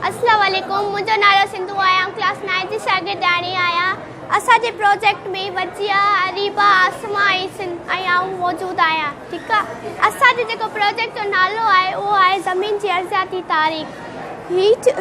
السلام عليڪم منهنجو نالو سنڌو آهي آئون ڪلاس نائين جي شاگردياڻي آهيان اسان جي پروجيڪٽ ۾ وجيا اريبا آسما ۽ سن ۽ آئون موجود آهيان ٺيڪ آهي اسان جي جيڪو پروجيڪٽ جو نالو آهي اهو آهي زمين جي ارضياتي تاريخ هي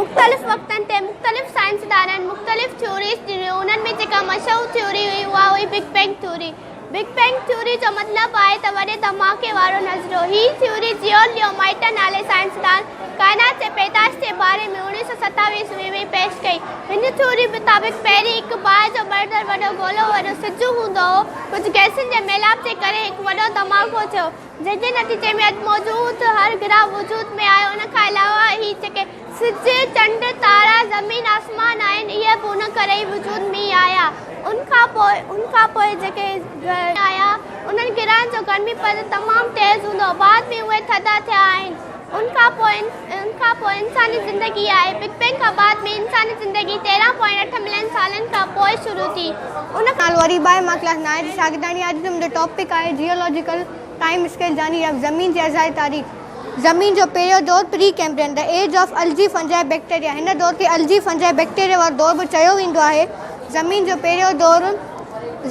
مختلف وقتن تي مختلف سائنسدانن مختلف ٿيوريز ڏنيون انهن ۾ جيڪا مشهور ٿيوري هئي اها هئي big bang theory big bang theory جو مطلب آهي ته وڏي ڌماڪي وارو نظريو. هي ٿيوري جيون ليو مائٽا نالي سائنسدان ڪائنات جي پيدائش جي باري ۾ اڻويهه سؤ ستاوي عيسوي ۾ پيش ڪئي. هن ٿيوري مطابق پهرين هڪ باهه جو ٻرندڙ وڏو گولو وڏو سج هوندو هو. ڪجهه گئسن جي ميلاپ جي ڪري هڪ وڏو ڌماڪو ٿيو جنهن جي نتيجي ۾ اڄ موجود هر گرهه وجود ۾ آيو. ان کان علاوه هي جيڪي. سج، چنڊ، تارا، زمين، آسمان آهن، اهي به ان ڪري ئي وجود ۾ آيا. ان کان پوء، ان کان پوء جيڪي گرمي آيا، انهن گرهن جو گرمي پد تمام تيز هوندو هو، بعد ۾ اهي ٿڌا ٿيا آهن. ان کان پوء، ان کان پوء انساني زندگي آئي. بگ بينگ کان بعد ۾ انساني زندگي تيرهن پوائنٽ اٺ ملين سالن کان پوء شروع ٿي. ان کان نالو وري به آهي. مان ڪلاس نائين جي شاگرداڻي آهيان. اڄ جو منهنجو ٽاپڪ آهي جيولاجيڪل ٽائيم اسڪيل جاني يا زمين جي ازالي تاريخ. زمين جو پهريون دور Precambrian, The Age of Algae, Fungi, Bacteria، هن دور کي Algae، Fungi، Bacteria وارو دور به چيو ويندو آهي. زمين جو پهريون دور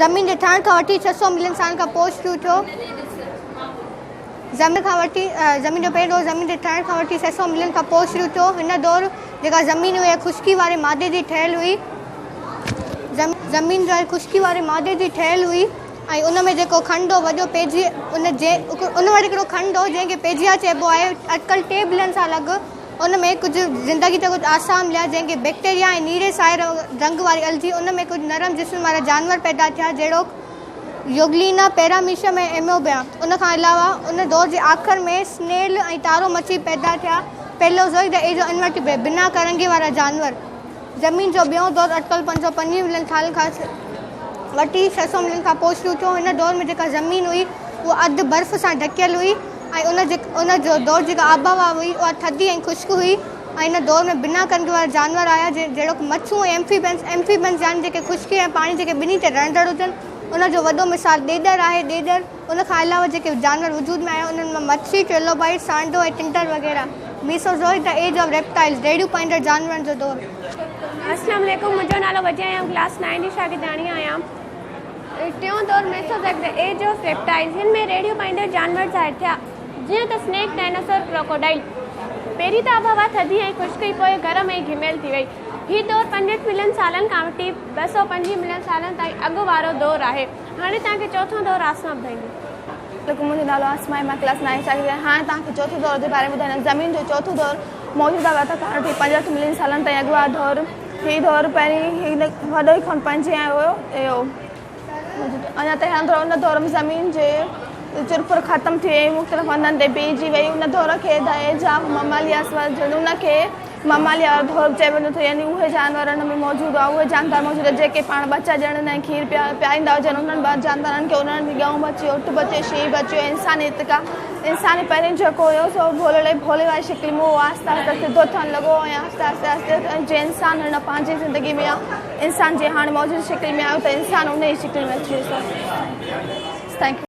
زمين جي ٺهڻ کان وٺي ڇهه سؤ ملين سالن کان پوء شروع ٿيو. زمين جو پهريون دور زمين جي ٺهڻ کان وٺي ڇهه سؤ ملين کان پوء شروع ٿيو. هن دور جيڪا زمين هئي اها خشڪي واري مادي جي ٺهيل هئي. ۽ ان ۾ جيڪو کنڊ هو وڏو پيجيا ان جي ان وٽ هڪڙو کنڊ هو جنهن کي پيجيا چئبو آهي اٽڪل ٽي بلين سال اڳ ان ۾ ڪجهه زندگي جا ڪجهه آثار مليا جنهن کي بيڪٽيريا ۽ نيري سائي رنگ واري الجي ان ۾ ڪجهه نرم جسمن وارا جانور پيدا ٿيا جهڙوڪ يوگلينا پيراميشم ۽ ايموبيا ان کان علاوه ان دور جي آخر ۾ سنيل ۽ تارو مڇي پيدا ٿيا پيلوزوئڪ جا ايجو انورٽيبريٽ بنا ڪرنگهي وارا جانور. زمين جو ٻيون دور اٽڪل پنج سؤ پنجويهه ملين سالن کان وٺي ڇهه سؤ ملين کان پوء شروع ٿيو. هن دور ۾ جيڪا زمين هئي اها اڌ برف سان ڍڪيل هئي ۽ ان دور جي جيڪا آبهوا هئي اها ٿڌي ۽ خشڪ هئي ۽ ان دور ۾ بنا ڪنگهه وارا جانور آيا جهڙوڪ مڇون ۽ ايمفيبنس Amphibians يعني جيڪي خشڪي ۽ پاڻي جيڪي ٻنهي تي رهندڙ هجن ان جو وڏو مثال ڏيڏر آهي ڏيڏر ان کان علاوه جيڪي جانور وجود ۾ آيا انهن مان مڇي، ٽريلوبائيٽ، سانڊو ۽ ٽنڊر وغيره. Mesozoic, The Age of Reptiles، ريڙهيون پائيندڙ جانورن جو دور. اسلام عليڪم منهنجو نالو وجي ۽ آئون ڪلاس نائين جي شاگردياڻي آهيان ٽيون دور Mesozoic, The Age of Reptiles، هن ۾ ريڙهيون پائيندڙ جانور ظاهر ٿيا جيئن ته سنيڪ، ڊائناسور، ڪروڪوڊائل. پهرين ته آبهوا ٿڌي ۽ خشڪ هئي پوء گرم ۽ گهميل ٿي وئي. هي دور پنجهٺ ملين سالن کان وٺي ٻه سؤ پنجويهه ملين سالن تائين اڳ وارو دور آهي. هاڻي توهان کي چوٿون دور آسمان ٻڌائيندو. لڪ، منهنجو نالو آسمان ۽ مان ڪلاس نائين شاگرد آهيان. هاڻي توهان کي چوٿون دور جي باري ۾ ٻڌائيندس. زمين جو چوٿون دور موجوده وقت کان وٺي پنجهٺ ملين سالن تائين اڳ وارو دور. هي دور پهرين هن وڏو ئي خون پنهنجي آيو هو. اڃا تائين هلندو رهيو. ان دور ۾ زمين جي چرپر ختم ٿي وئي ۽ مختلف هنڌن تي بيهجي وئي. ان دور کي دهيء جا ممالياسور جهڙوڪ، مماليا اردهوڪ چئي وڃو ٿو يعني اهي جانور ان ۾ موجود هئا اهي جاندار موجود هئا جيڪي پاڻ ٻچا ڄڻن ۽ کير پيائيندا هجن انهن ٻار جاندارن کي انهن جي ڳئون ٻچي اٺ ٻچي شينهن ٻچي ۽ انساني اتڪا انساني پهرين جيڪو هيو سو ڀولڙي ڀولي واري شڪل ۾ هو آهستي آهستي سڌو ٿيڻ لڳو ۽ آهستي آهستي آهستي آهستي جي انسان هن پنهنجي زندگي ۾ آيو انسان جي هاڻ موجود شڪل ۾ آيو ته انسان انهي شڪل ۾ اچي ويو سو ٿينڪ يو